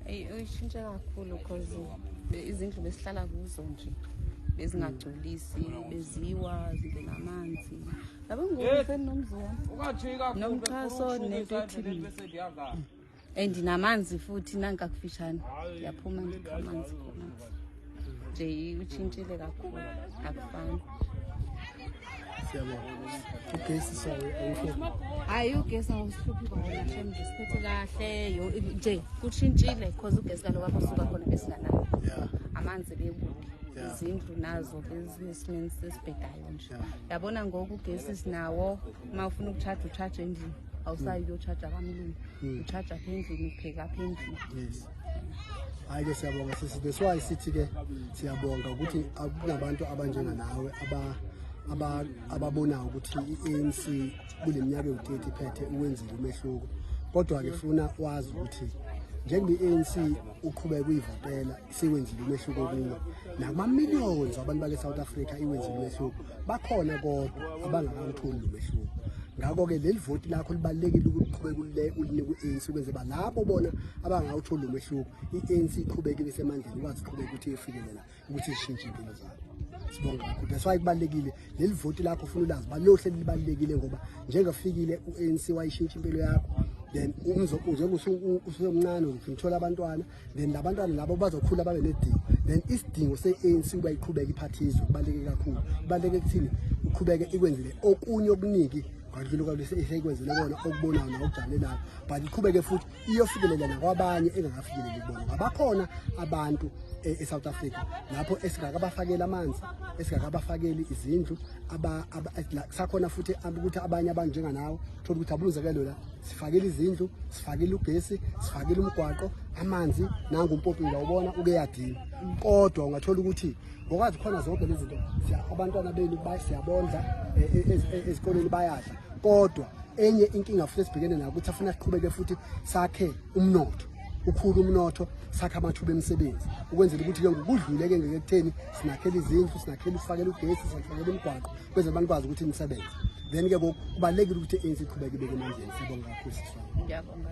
uyishintshe kakhulu because izindlu besihlala kuzo nje bezingagculisi beziwa zibe namanzi yabo ngokufeni nomzwa nomxhaso nento ethile and namanzi futhi nankakufishane yaphuma nje amanzi khona nje utshintshile kakhulu akufani ugesi sayo hayi ugesi awusihluphi kwaona shem nje siphethe kahle yo nje kushintshile cause ugesi kaloku apho suka khona besinganayo amanzi bekude izindlu nazo bezinesimeni sesibhedayo nje yabona ngoku ugesi sinawo uma ufuna ukutshaja utshaja endlini awusayi uyotshaja kamlungu utshaja apha endlini upheka apha endlini hayi ke siyabonga sisi that's why sithi ke siyabonga ukuthi akunabantu abanjenga nawe aba aba ababonayo ukuthi iANC kuleminyaka ewu30 phethe uwenzile umehluko kodwa ke funa wazi ukuthi njengoba iANC uqhubeka kuyivotela siwenzile umehluko kuyo nakuma millions abantu bale South Africa iwenzile umehluko bakhona kodwa abangakawutholi lo mehluko ngakho-ke leli voti lakho libalulekile ukuqhubeka uline ku-anc ukwenze ba labo bona abangawutholi lo mehluko i-anc iqhubeke ibesemandleni ikwazi uqhubeka ukuthi iyofikelela ukuthi ishintshe impilo zabo sibonga kakhulu that's why kubalulekile leli voti lakho ufuna ulazi ba lohle libalulekile ngoba njengafikile u-anc wayishintsha impilo yakho then njengoba usuke umncane ngithola abantwana then labantwana labo bazokhula babe nedingo then isidingo se-anc uba iqhubeke iphathizwe kubaluleke kakhulu kubaluleke kuthini uqhubeke ikwenzele okunye okuningi ngadlula kwaseyikwenzele kona okubonayo nawokujabulelayo but iqhubeke futhi iyofikelela nakwabanye engakafikeleli kubona ngabakhona abantu e, e-south africa lapho esingakabafakeli amanzi esingakabafakeli izindlu sakhona futhi ukuthi abanye abantu njenganawo thola ukuthi abulunzekelo la sifakile izindlu sifakile ugesi sifakile umgwaqo amanzi nangu umpopila ubona ukeyadini kodwa ungathola ukuthi ngokwazi khona zonke lezi zinto abantwana benu siyabondla e, e, e, ezikoleni bayadla kodwa enye inkinga futhi esibhekene nayo ukuthi afuna siqhubeke futhi sakhe umnotho ukhulu umnotho sakha amathuba emisebenzi ukwenzela ukuthi ke ngokudluleke ngeke kutheni sinakhele izindlu sinakhele usifakele ugesi sinakhele umgwaqo kweze abantu kwazi ukuthi nisebenze then ke kubalekile ukuthi ANC iqhubeke ibeke emandleni sibonga kakhulu siswa ngiyabonga